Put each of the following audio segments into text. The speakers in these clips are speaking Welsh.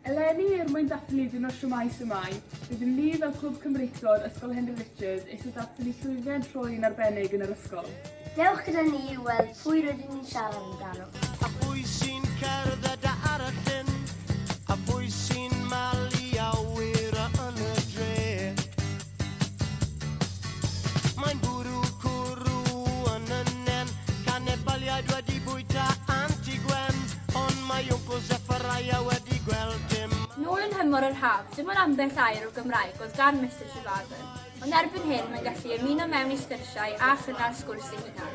Eleni, er mwyn dathlu Diwrnod Shwmae Sumae, rydym ni fel Clwb Cymreictod Ysgol Henry Richard eisiau dathlu llwyddiant Roy yn arbennig yn yr ysgol. Dewch gyda ni i'w weld pwy rydyn ni'n siarad amdano. A phwy sy'n cerdded a ar y llyn? A phwy sy'n malu awyr yn y dre? Mae'n bwrw cwrw yn y nen Canebaliaid wedi bwyta Anti Gwen Ond mae Wncwl Zeffariah wedi gweld dim Nôl yn nhymor yr haf, dim ond ambell air o Gymraeg oedd gan Mister Trevarthen, ond erbyn hyn mae'n gallu ymuno mewn i sgyrsiau a chynnal sgwrs ei hunan.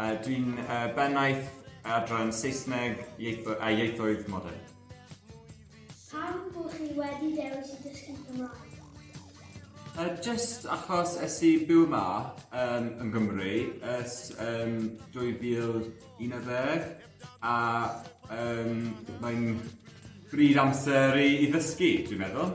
Uh, dwi'n uh, bennaeth adran Saesneg ieitho a ieithoedd modern. Pam bod chi wedi dewis i dysgu Cymraeg? Uh, just achos es i byw yma um, yn Gymru ers um, 2011 a um, mae'n bryd amser i, i ddysgu, dwi'n meddwl.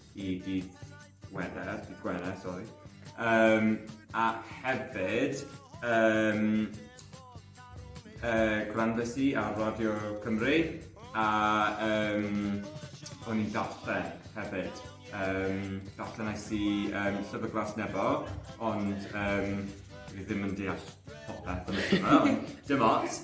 i dydd Wener, dydd Gwener, sori. Um, ac hefyd, um, uh, gwrandes i ar Radio Cymru a um, o'n i'n darllen hefyd. Um, darllen ais i um, Llyfr Glas Nebo, ond um, fi ddim yn deall popeth yn y dim ots.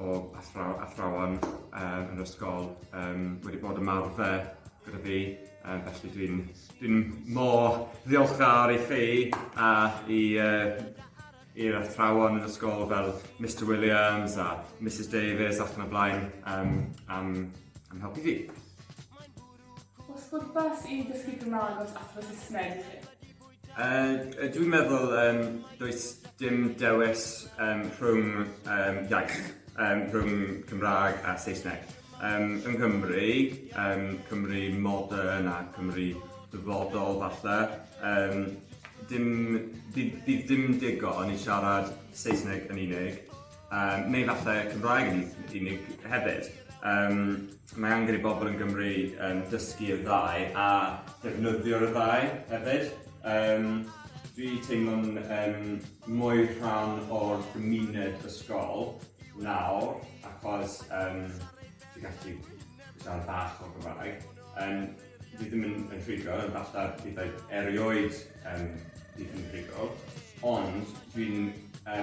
o athraw- athrawon um, yn ysgol um, wedi bod ymarfer gyda fi, um, felly dwi'n dwi mor ddiolchgar i chi a i uh, i'r athrawon yn ysgol fel Mr Williams a Mrs Davies ac yn y blaen um, am, am helpu fi. Oes pwrpas i ddysgu Cymraeg os athro Saesneg i chi? Yy dwi'n meddwl yym does dim dewis yym rhwng yym iaith yym rhwng Cymraeg a Saesneg yym yng Nghymru yym Cymru modern a Cymru dyfodol falle yym dim bydd bydd dim digon i siarad Saesneg yn unig. Yym neu falle Cymraeg yn unig hefyd. Yym mae angen i bobl yn Gymru yym dysgu y ddau a defnyddio'r y ddau hefyd. Yym dwi teimlo'n yym mwy rhan o'r gymuned ysgol nawr achos yym dwi gallu siarad bach o Gymraeg yym dwi ddim yn yn rhugl ond falle bydd erioed yym bydd yn rhugl ond dwi'n yy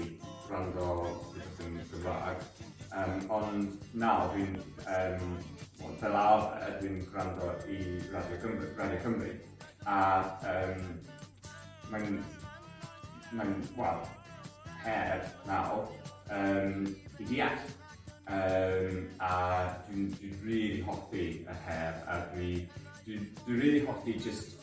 i wrando rhywbeth yn Gymraeg. Um, ond nawr fi'n, um, fel arfer, fi'n gwrando i Radio Cymru, Radio Cymru a um, mae'n, mae'n, wel, her nawr um, i deall. Um, a dwi'n dwi really hoffi y her a dwi, dwi'n dwi really hoffi just